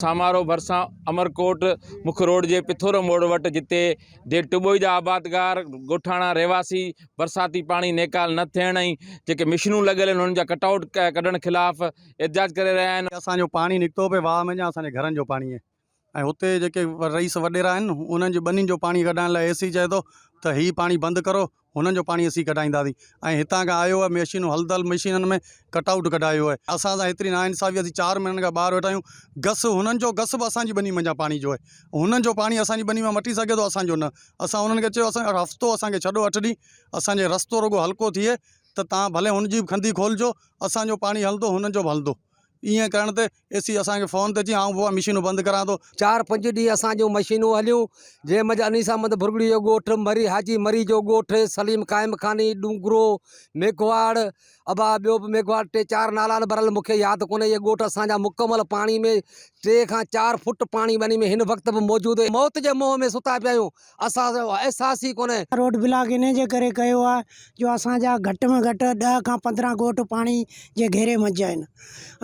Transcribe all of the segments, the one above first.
سامارو ڀرسان امرڪوٽ مک روڊ جي پٿورو موڙ وٽ جتي دير ٽٻوئي جا آبادگار ڳوٺاڻا رهواسي برساتي پاڻي نيڪال نه ٿيڻ ۽ جيڪي مشنون لڳل آهن انهن جا ڪٽ آئوٽ ڪڍڻ خلاف احتجاج ڪري رهيا آهن. اسان جو پاڻي نڪتو پئي واهه ۾ جا اسان جي گهرن جو پاڻي آهي ۽ هتي جيڪي رئيس وڏيرا آهن انهن جي ٻنين جو پاڻي ڪڍائڻ لاء اي سي چئي ٿو ته هي پاڻي بند ڪرو هنن جو پاڻي اسين ڪڍائينداسين ۽ هتان کان آيو آهي ميشينون هلدل مشينن ۾ ڪٽ آئوٽ ڪڍايو آهي اسان سان هيتري نا انصافي اسين چار مهينن کان ٻاهر ويٺا آهيون گس هنن جو گس به اسان جي ٻني منجهان پاڻي جو آهي هنن جو پاڻي اسان جي ٻني مان مٽي سگهي ٿو اسان جو نه اسان هنن کي چيو اسان کي هفتو اسان کي ڇڏو اٺ ڏينهن اسان جي رستو رڳو هلڪو ٿئي ته تان ڀلي هن جي به کنڌي کولجو اسان جو پاڻي هلندو هنن جو به هلندو. ائين ڪرڻ تي اي سي اسان کي فون تي اچي آئون بابا مشينون بند ڪران ٿو. چار پنج ڏينهن اسان جون مشينون هليون، جنهن منجهه انيسا مند ڀرڳڙي جو ڳوٺ، مري حاجي مري جو ڳوٺ، سليم قائم خاني، ڏونگرو، ميگهواڙ، ابا ٻيو به ميگهواڙ ٽي چار نالا آهن برحال مون کي ياد ڪونهي اهي ڳوٺ اسان جا مڪمل پاڻي ۾ ٽي کان چار فوٽ پاڻي ٻني ۾ هن وقت به موجود هي موت جي منهن ۾ ستا پيا آهيون. اسان سان اهو احساس ئي ڪونهي. روڊ بلاڪ انهيء جي ڪري ڪيو آهي جو اسان جا گهٽ ۾ گهٽ ڏهه کان پندرهن ڳوٺ پاڻي جي گهيري منجهه آهن.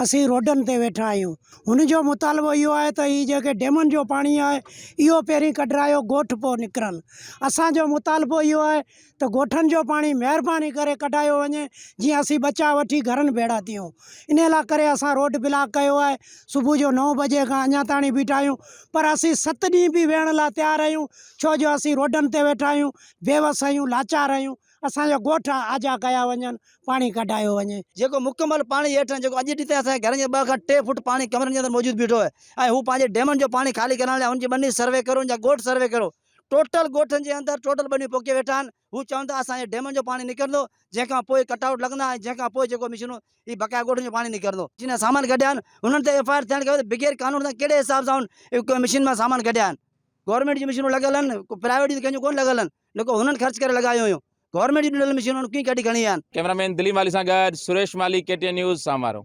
اسين روڊن تي ويٺا آهيون. هن جو مطالبو اهو آهي ته هي جيڪي ڊيمن جو پاڻي آهي اهو پهرين ڪڍرايو ڳوٺ پوء نڪرن. اسان جو مطالبو اهو آهي ته ڳوٺن جو پاڻي مهرباني ڪري ڪڍايو وڃي جيئن اسين ٻچا وٺي گهرن ڀيڙا ٿيون ان لاء ڪري اسان روڊ بلاڪ ڪيو آهي صبح جو نو بجي کان اڃا تائين بيٺا آهيون پر اسين ست ڏينهن به ويهڻ لاء تيار آهيون ڇو جو اسين روڊن تي ويٺا آهيون بيوس آهيون لاچار آهيون اسانجا ڳوٺ آجا ڪيا وڃن پاڻي ڪڍايو وڃي. جيڪو مڪمل پاڻي هيٺان جيڪو اڄ ڏينهن تائين اسانجي گهرن جي ٻه کان ٽي فوٽ پاڻي ڪمرن جي اندر موجود بيٺو آهي ۽ هو پنهنجي ڊيمن جو پاڻي خالي ڪرڻ لاء هن جي ٻني سروي ڪريو هن جا ڳوٺ سروي ڪريو ٽوٽل ڳوٺن جي اندر ٽوٽل ٻنيون پوکي ويٺا آهن هو چون ٿا اسان جي ڊيمن جو پاڻي نڪرندو جنهن کان پوء ڪٽ آئوٽ لڳندا ۽ جنهن کان پوء جيڪو مشينون اي بقايا ڳوٺن جو پاڻي نڪرندو. جنهن سامان ڪڍيا آهن انهن تي ايف آء آر ٿيڻ کپي ته بغير قانون سان ڪهڙي حساب سان هن مشين مان سامان ڪڍيا آهن گورنمينٽ جون مشينون لڳل آهن ڪو پرائيويٽ جون ته ڪنهن جون ڪونه لڳل آهن نه ڪو هنن خرچ ڪري لڳايون هيون گورنمينٽ جون ڏنل مشينون هن ڪيئن ڪڍي کڻي ويا آهن. ڪيمرا مين دليم والي سان گڏ Suresh Malhi K T N news Samaro.